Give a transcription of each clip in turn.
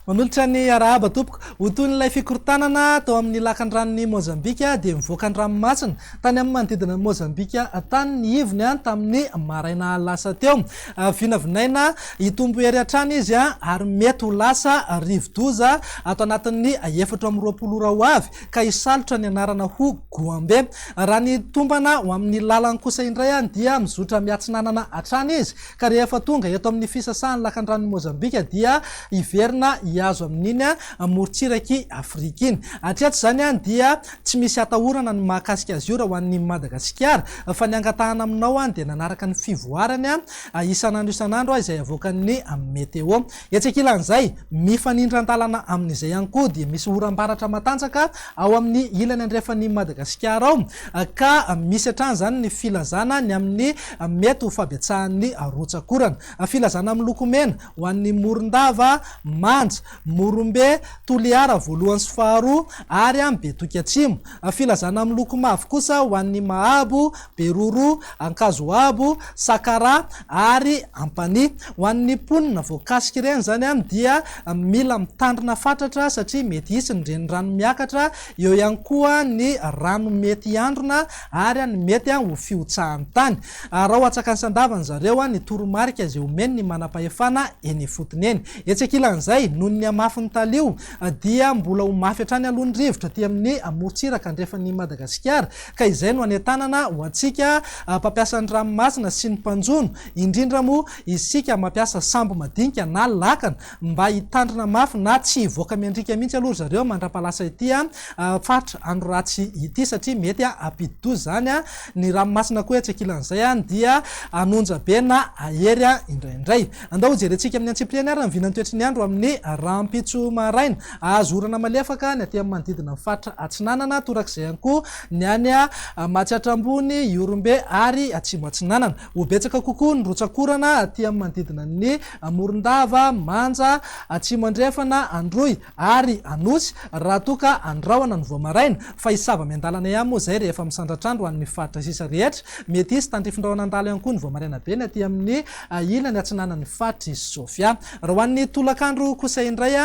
Manolotra ny arahaba tompoko. Ho toy ilay fikorontanana tao amin'ny lakan-dranon'i Mozambika dia mivoaka ny ranomasina tany amin'ny manodidina an'i Mozambika tany ny ivony an tamin'ny maraina lasa teo. Ah, vinavinaina hitombo hery hatrany izy an ah, ary mety ho lasa rivo-doza ato anatin'ny efatra amby roapolo ora ho avy. ka hisalotra ny anarana ho Goambe. Raha ny tombana ho amin'ny lalany kosa indray dia mizotra miatsinanana hatrany izy ka rehefa tonga eto amin'ny fisasahan'ny lakandranon'i Mozambika dia hiverina hihazo amin'iny morontsirak'i Afrika iny. Hatreto izany dia tsy misy atahorana ny mahakasika azy io raha ho an'ny Madagasikara fa ny angatahana aminao dia nanaraka ny fivoarany isan'andro isan'andro izay avoakan'ny Meteo. Etsy ankilan'izay, mifanindran-dalana amin'izay ihany koa dia misy oram-baratra matanjaka ao amin'ny ilany andrefan'i Madagasikara ao ka misy hatrany izany ny filazana ny amin'ny mety ho fabetsahan'ny rotsak'orana. Filazana miloko mena ho an'ny Morondava, Manja, Morombe, Toliara voalohany sy faharoa ary Betoky Atsimo. Filazana miloko mavo kosa ho an'ny Mahabo, Beroro, Ankazoabo, Sakara ary Ampanihy. Ho an'ny mponina voakasika ireny izany dia mila mitandrina fatratra satria mety hisy ny renirano miakatra, eo ihany koa ny rano mety hiandrona ary ny mety ho fihotsahan'ny tany. Araho atsakany sy andavany zareo ny toromarika izay omen'ny manam-pahefana eny ifotony eny. Etsy ankilan'izay, noho ny hamafin'ny taliho dia mbola ho mafy hatrany aloha ny rivotra aty amin'ny morontsiraka andrefan'i Madagasikara Ka izay no anentanana ho antsika mpampiasa ny ranomasina sy ny mpanjono, indrindra moa isika mampiasa sambo madinika na lakana mba hitandrina mafy na tsy hivoaka miandriaka mihitsy aloha ry zareo mandra-pahalasa ity faritra Anoratsy ity satria mety hampidi-doza izany ny ranomasina koa etsy ankilan'izay dia hanonja be na hahery indraindray. Andao hojerentsika amin'ny antsipiriany ary ny vinan'ny toetry ny andro amin'ny rahampitso maraina. Ahazo orana malefaka ny aty amin'ny manodidina ny faritra Atsinanana, torak'izay ihany koa ny any Matsiatra Ambony, Ihorombe ary Atsimo Atsinanana. Ho betsaka kokoa ny rotsak'orana aty amin'ny manodidina ny Morondava, Manja, Atsimo Andrefana, Androy ary Anosy raha toa ka andrahona ny vao maraina, fa hisy zava-miandalana ihany moa izay rehefa misandratrandro ho an'ny faritra sisa rehetra. Mety hisy tandrifindrahona handalo ihany koa ny vao maraina be ny aty amin'ny ilany atsinanan'ny faritr'i Sofia. Raha ho an'ny tolakandro kosa indray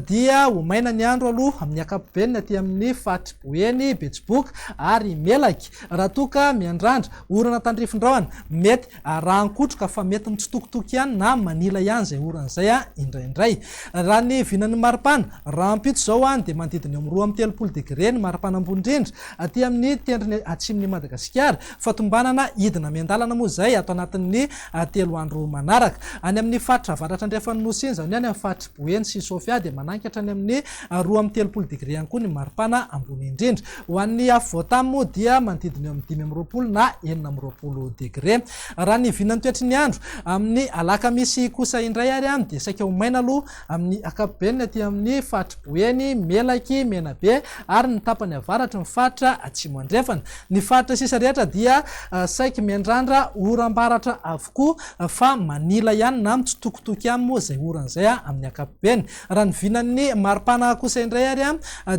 dia ho maina ny andro aloha amin'ny ankapobeny aty amin'ny faritry Boeny, Betsiboka ary Melaky raha toa ka miandrandra orana tandrifin-drahona mety arahan-kotroka fa mety mitsitokotoko ihany na manila ihany izay orana izay indraindray. Raha ny vinan'ny maripana rahampitso izao dia manodidina eo amin'ny roa amby telopolo degre ny maripana ambony indrindra aty amin'ny tendrony atsimon'i Madagasikara Fahatombanana hidina miandalana moa izay ato anatin'ny telo andro manaraka. Any amin'ny faritra avaratra andrefan'ny Nosy iny, izany hoe any amin'ny faritr'i Boeny sy Sofia, dia manangy hatrany amin'ny roa amby telopolo degre ihany koa ny maripana ambony indrindra. Ho an'ny afovoan-tany moa dia manodidina eo amin'ny dimy amby roapolo na enina amby roapolo degre. Raha ny vinan'ny toetry ny andro amin'ny alakamisy kosa indray ary dia saika ho maina aloha Amin'ny ankapobeny ny aty amin'ny faritry Boeny, Melaky, Menabe ary ny tapany avaratry ny faritra Atsimo Andrefana. Ny faritra sisa rehetra dia saiky miandrandra oram-baratra avokoa fa manila ihany na mitsitokitoky ihany moa izay orana izay amin'ny ankapobeny. Raha ny vinan'ny maripana kosa indray ary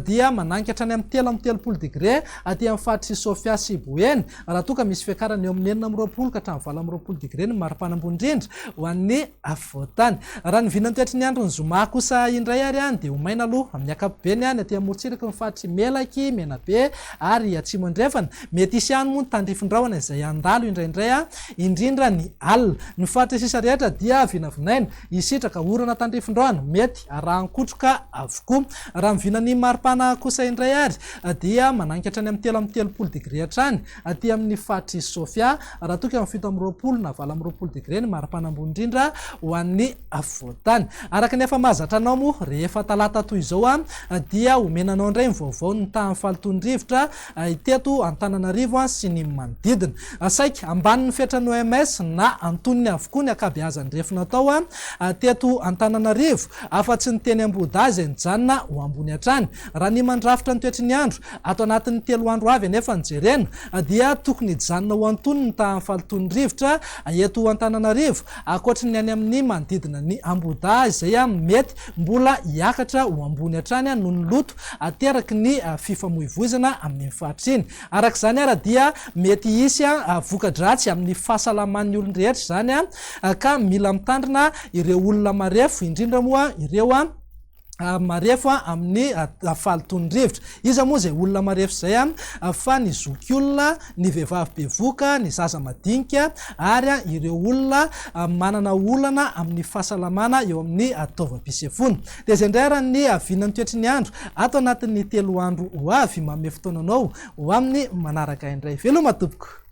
dia manainga hatrany amin'ny telo amby telopolo degre aty amin'ny faritry Sofia sy Boeny Raha toa ka misy fiakarana eo amin'ny enina amby roapolo ka hatramin'ny valo amby roapolo degre ny maripana ambony indrindra ho an'ny afovoantany. Raha ny vinany tratry ny andron'ny zoma kosa indray ary dia ho maina aloha amin'ny ankapobeny any aty amorontsiraky ny faritr'i Melaky, Menabe ary Atsimo Andrefana. Mety hisy ihany moa ny tandrifin-drahona izay handalo indraindray indrindra ny alina. Ny faritra sisa rehetra dia vinavinaina hisitraka orana tandrifin-drahona mety arahan-kotroka avokoa. Raha ny vinan'ny maripana kosa indray ary dia managnika hatrany amin'ny telo amby telopolo degre hatrany aty amin'ny faritr'i Sofia, raha toa ka amin'ny fito amby roapolo na valo amby roapolo degre ny maripana ambony indrindra ho an'ny afovoan-tany. Araka ny efa mahazatra anao moa, rehefa talata toy izao dia homena anao indray ny vaovao ny tahan'ny fahalotoan'ny rivotra teto Antananarivo sy ny manodidina. Saiky ambanin'ny fetran'ny OMS na antonony avokoa ny ankabeazan'ny refy natao teto Antananarivo, afa-tsy ny teny Ambohidahy izay nijanona ho ambony hatrany Raha ny mandrafitra ny toetry ny andro ato anatin'ny telo andro avy anefa no jerena dia tokony hijanona ho antonony ny tahan'ny falotoan'ny rivotra eto Antananarivo, ankoatry ny any amin'ny manodidina ny Ambohidahy izay mety mbola hiakatra ho ambony hatrany noho ny loto ateraky ny fifamoivoizana amin'iny faritra iny. Araka izany ary dia mety hisy voka-dratsy amin'ny fahasalaman'ny olon-drehetra izany ka mila mitandrina ireo olona marefo indrindra moa ireo. marefo amin'ny fahalotoan'ny rivotra. Iza moa izay olona marefo izay fa ny zokiolona, ny vehivavy bevoka, ny zaza madinika ary ireo olona manana olana amin'ny fahasalamana eo amin'ny taovam-pisefoana. Dia izay indray ary ny vinan'ny toetry ny andro ato anatin'ny telo andro ho avy. Manome fotoana anao ho amin'ny manaraka indray. Veloma tompoko!